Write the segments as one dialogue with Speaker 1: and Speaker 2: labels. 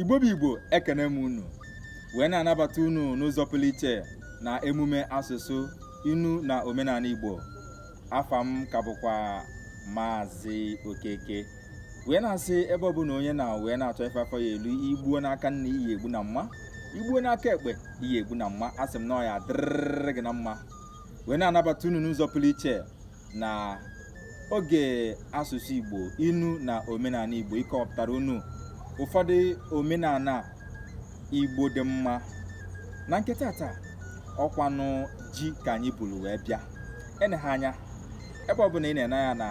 Speaker 1: igbo bụ igbo ekene m unu wee na-anabata unu n'ụzọ pụrụ iche na emume asụsụ inu na omenala igbo afa m ka bụkwa maazị okeke wee na-asị ebe ọ bụla onye nọ wee na-achọ ife afọ ya-eli igbuo n'aka nni ị ya-egbu na mma igbuo n'aka ekpe ị ya-egbu na mma asị m na ọ ya-adịrịrị gị na mma wee na-anabata unu n'ụzọ pụrụ iche na oge asụsụ Igbo inu na omenala Igbo ịkọpụtara unu ụfọdụ omenala Igbo dị mma na nke tata ọ kwanụ ji ka anyị buru wee bịa eneghị anya ebe ọbụla ị na-ene ya na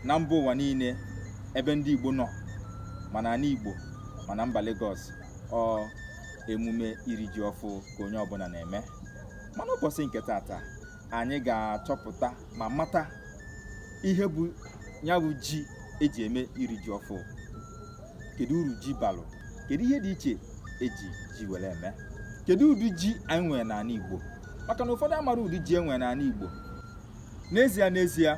Speaker 1: na mba ụwa niile ebe ndị Igbo nọ ma n'ala Igbo ma na mba Lagos ọ emume iri ji ọfụ ka onye ọbụla na-eme mana ụbọchị nke tata anyị ga-achọpụta ma mata ihe bụ ya bụ ji eji eme iri ji ọfụ kedu uru ji balụ kedu ihe dị iche eji ji were eme kedu ụdị ji anyị nwere n'ala Igbo maka na ụfọdụ amara ụdị ji enwere n'ala Igbo n'ezie n'ezie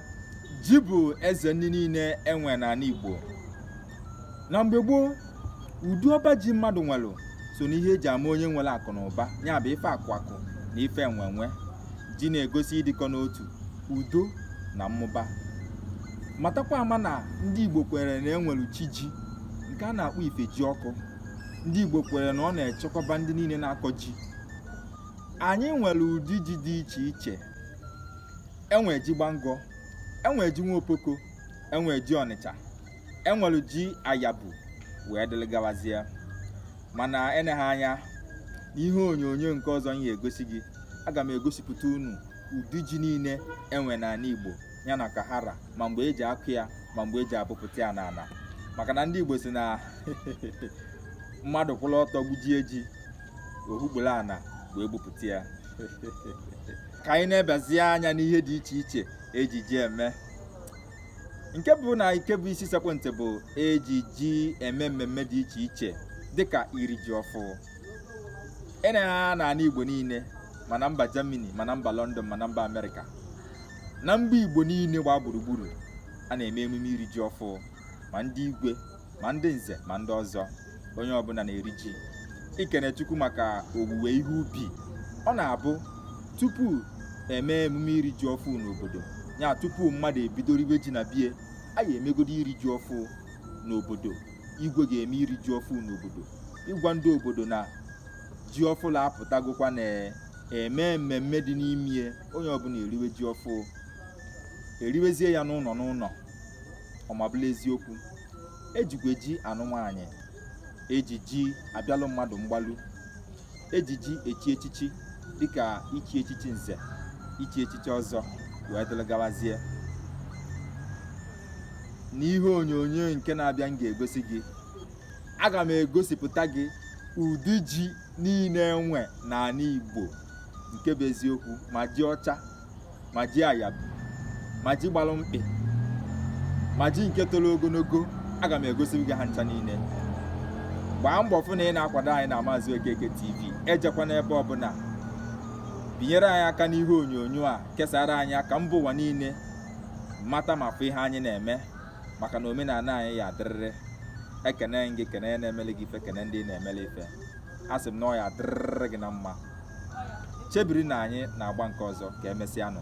Speaker 1: ji bụ eze nni niile enwere n'ala Igbo na mgbe gboo ụdị ọba ji mmadụ nwere so n'ihe eji ama onye nwere akụ na ụba ya bụ ife akụ akụ na ife enwe enwe ji na-egosi ịdịkọ n'otu udo na mmụba matakwa ama na ndị igbo kwere na enwere chi ji nke a na-akpọ ifejiọkụ ndị igbo kwere na ọ na-echekwaba ndị niile na-akọ ji anyị nwere ụdị ji dị iche iche enwere ji gbangọ enwere ji nwa opoko enwere ji ọnịcha enwere ji ayabu wee dịrị gawazie mana eneghị anya n'ihe onyonyo nke ọzọ m ga-egosi gị aga m egosipụta unu ụdị ji niile enwere n'ala Igbo ya na ka ha ra ma mgbe eji akụ ya ma mgbe eji abụpụta ya n'ala maka na ndị Igbo sị na mmadụ kwụrụ ọtọ gbujie ji o hukporo ana wee bupụta ya ka anyị nebazie anya n'ihe dị iche iche eji ji eme nke mbụ na nke bụ isi sekpụ ntị bụ eji ji eme mmemme dị iche iche dịka iri ji ọfụ ene anya n'ala igbo niile ma na mba germany ma na mba london ma na mba america na mba igbo niile gbaa gburugburu a na-eme emume iri ji ọfụ ma ndị igwe ma ndị nze ma ndị ọzọ onye ọbụla na-eri ji ikene Chukwu maka owuwe ihe ubi ọ na-abụ tupu eme emume iri ji ọfụ n'obodo ya tupu mmadụ ebido riwe ji na bie anyị emegodo iri ji ọfụ n'obodo igwe ga-eme iri ji ọfụ n'obodo ịgwa ndị obodo na ji ọfụlụ apụtagokwa na emee mmemme dị n'ime ya onye ọbụla eriwe ji ọfụ eriwezie ya n'ụlọ n'ụlọ ọmabụla eziokwu ejikwa ji anụ nwaanyị eji ji abịalụ mmadụ mgbalu eji ji echi echichi dịka ichi echichi nze ichi echichi ọzọ wee dịrị gawazie n'ihe onyonyo nke na-abịa m ga-egosi gị aga m egosipụta gị ụdị ji niile enwe n'ala Igbo nke bụ eziokwu ma ji ọcha ma ji ayabụ ma ji gbalụ mkpị ma ji nke toro ogologo aga m egosi gị ha ncha niile gbaa mbọ fụ na ị na-akwado anyị na Maazị Okeke TV ejekwana ebe ọbụla binyere anyị aka n'ihe onyonyo a kesara anyị ya ka mba ụwa niile mata ma fụ ihe anyị na-eme maka na omenala anyị ya adịrịrị ekene m gị kene onye na-emele gị ife kene ndị ị na-emele ife a sị m na ọ ya adịrịrị gị na mma chebiri na anyị na-agba nke ọzọ ka emesịa nụ